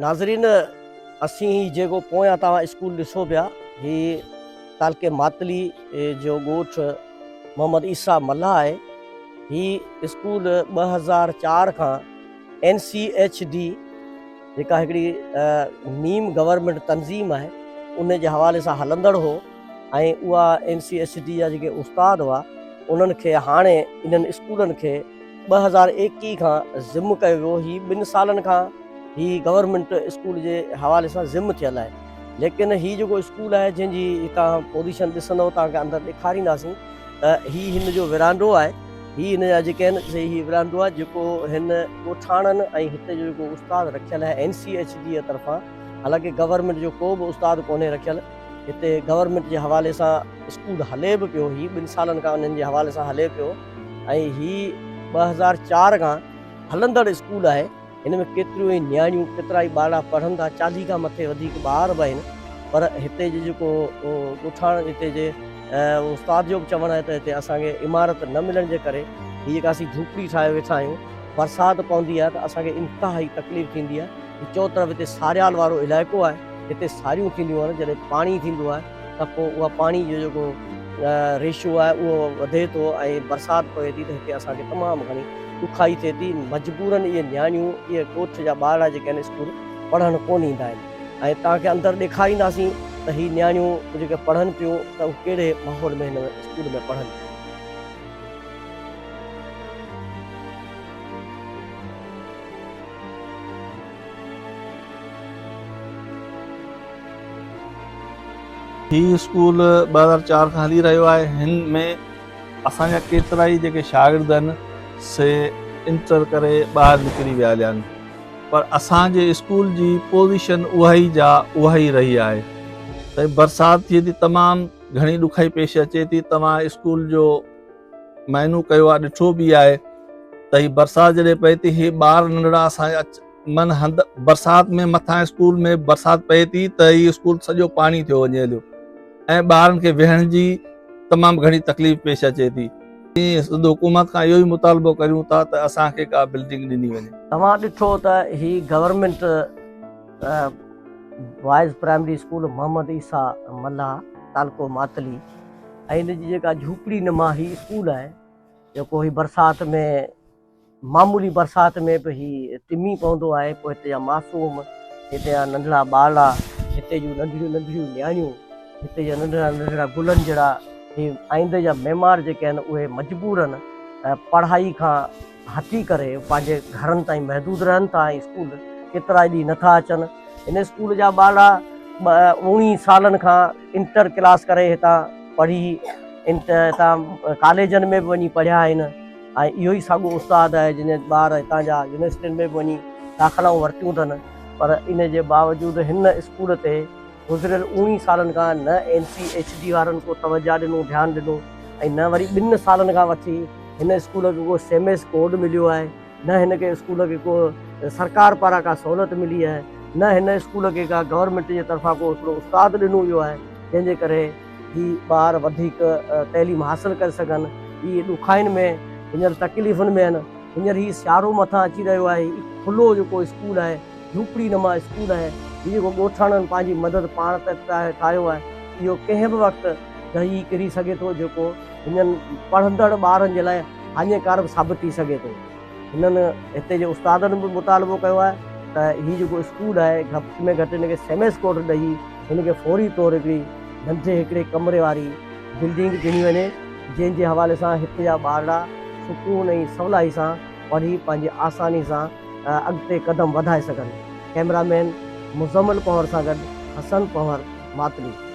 ناظرين اسين هي جيڪو پويان توهان اسڪول ڏسو پيا هي تعلقي ماتلي جو ڳوٺ محمد عيسيٰ ملاح آهي هي اسڪول ٻه هزار چار کان اين سي ايڇ ڊي جيڪا هڪڙي نيم گورنمنٽ تنظيم آهي ان جي حوالي سان هلندڙ هو ۽ اها اين سي ايڇ ڊي جا جيڪي استاد هئا انهن کي هاڻي انهن اسڪولن کي ٻه هزار ايڪيهه کان ضم ڪيو ويو هي ٻن سالن کان هي گورنمينٽ اسڪول جي حوالي سان ضم ٿيل آهي ليڪن هي جيڪو اسڪول آهي جنهن جي توهان پوزيشن ڏسندو توهان کي اندر ڏيکارينداسين ته هي هن جو ورانڊو آهي هي هن جا جيڪي آهن سي هي ورانڊو آهي جيڪو هن ڳوٺاڻن ۽ هتي جو جيڪو استاد رکيل آهي اين سي ايڇ جي طرفان حالانڪه گورنمينٽ جو ڪو به استاد ڪونهي رکيل هتي گورنمينٽ جي حوالي سان اسڪول هلي به پيو هي ٻن سالن کان انهن جي حوالي سان هلي پيو ۽ هي ٻه هزار چار کان هلندڙ اسڪول آهي هن ۾ ڪيتريون ئي نياڻيون ڪيترا ئي ٻارڙا پڙهن ٿا چاليهه کان مٿي وڌيڪ ٻار به آهن پر هتي جي جيڪو ڳوٺاڻن هتي جي استاد جو به چوڻ آهي ته هتي اسان کي عمارت نه ملڻ جي ڪري هي جيڪا اسين جھوپڙي ٺاهي ويٺا آهيون برسات پوندي آهي ته اسان کي انتهائي تڪليف ٿيندي آهي چوطرف هتي ساريال وارو علائقو آهي هتي ساريون ٿينديون آهن جڏهن پاڻي ٿيندو آهي ته پوء اها پاڻي جو جيڪو ريشو آهي اهو وڌي ٿو ۽ برسات پوي ٿي ته هتي اسان کي تمام گهڻي ڏکائي ٿئي ٿي. مجبورن اهي نياڻيون اهي ڳوٺ جا ٻارڙا جيڪي آهن اسڪول پڙهڻ ڪونه ايندا آهن ۽ توهان کي اندر ڏيکارينداسين ته هي نياڻيون جيڪي پڙهن پيون ته هو ڪهڙي ماحول ۾ هن اسڪول ۾ پڙهن پيون. هي اسڪول ٻه هزار چار کان هلي رهيو آهي. هن ۾ اسان جا ڪيترائي جيڪي شاگرد آهن سي انٽر ڪري ٻاهر نڪري ويا هليا آهن پر اسان جي اسڪول جي پوزيشن اهائي جا اهائي رهي آهي. سائين برسات ٿئي ٿي تمام گهڻي ڏکائي پيش اچي ٿي توهان اسڪول جو. مهينو ڪيو آ ڏٺو به آهي ته هي برسات جڏهن پئي ٿي هي ٻار ننڍڙا اسان اچ من هنڌ برسات ۾ مٿان اسڪول ۾ برسات پئي ٿي ته هي اسڪول سڄو پاڻي ٿيو وڃي هليو ۽ ٻارن کي ويهڻ جي تمام گهڻي تڪليف پيش اچي ٿي سنڌ حڪومت کان اهو ئي مطالبو ڪريون ٿا ته اسان کي ڪا بلڊنگ ڏني وڃي توهان ڏٺو ته هي government boys primary school Muhammad Isa Mallah تعلقو ماتلي ۽ ان جي جيڪا جهوپڙي نما هي اسڪول آهي جيڪو هي برسات ۾ معمولي برسات ۾ به هي ٽمي پوندو آهي پوء هتي جا معصوم هتي جا ننڍڙا ٻارڙا هتي جون ننڍڙيون ننڍڙيون نياڻيون هتي جا ننڍڙا ننڍڙا گلن جهڙا هي آئيندي جا معمار جيڪي آهن اهي مجبورن پڙهائي کان هٿي ڪري پنهنجي گهرن تائين محدود رهن ٿا ۽ اسڪول ڪيترائي ڏينهن نه ٿا اچن. هن اسڪول جا ٻارڙا اوڻيهن سالن کان انٽر ڪلاس ڪري هتان پڙهي هتان ڪاليجن ۾ به وڃي پڙهيا آهن ۽ اهو ئي ساڳيو استاد آهي جنهن ٻار هتان جا يونيورسٽين ۾ به وڃي داخلائون ورتيون اٿن پر ان جي باوجود هن اسڪول تي گذريل اوڻيهن سالن کان نه اين سي ايڇ ڊي وارن ڪو توجهه ڏنو، ڌيان ڏنو ۽ نه وري ٻن سالن کان وٺي هن اسڪول کي ڪو سيميس ڪوڊ مليو آهي، نه هن کي اسڪول کي ڪو سرڪار پاران ڪا سهولت ملي آهي، نه هن اسڪول کي ڪا گورنمينٽ جي طرفان ڪو هڪڙو استاد ڏنو ويو آهي، جنهن جي ڪري هي ٻار وڌيڪ تعليم حاصل ڪري سگهن، هي ڏکائين ۾ هينئر تڪليفن ۾ آهن، هينئر هي سيارو مٿان اچي رهيو آهي، هي ڪلهو جيڪو اسڪول آهي. جهوپڙي نما اسڪول آهي، جنهن جيڪو ڳوٺاڻن پنهنجي مدد پاڻ ته ٺاهيو آهي، اهو ڪنهن به وقت ڊهي ڪري سگهي ٿو، جيڪو هنن پڙهندڙ ٻارن جي لاء هاڃيڪار به ثابت ٿي سگهي ٿو. هنن هتي جي استادن به مطالبو ڪيو آهي ته هي جيڪو اسڪول آهي، گهٽ ۾ گهٽ هن کي سيمس ڪورٽ ڏئي، هن کي فوري طور هڪڙي ننڍي هڪڙي ڪمري واري بلڊنگ ڏني وڃي، جنهن جي حوالي سان هتي جا ٻارڙا سڪون ۽ سولائي سان پڙهي پنهنجي آساني سان اڳتي قدم وڌائي سگهن، ڪئميرا مين مزمل پنهور سان گڏ حسن پنهور ماتلي.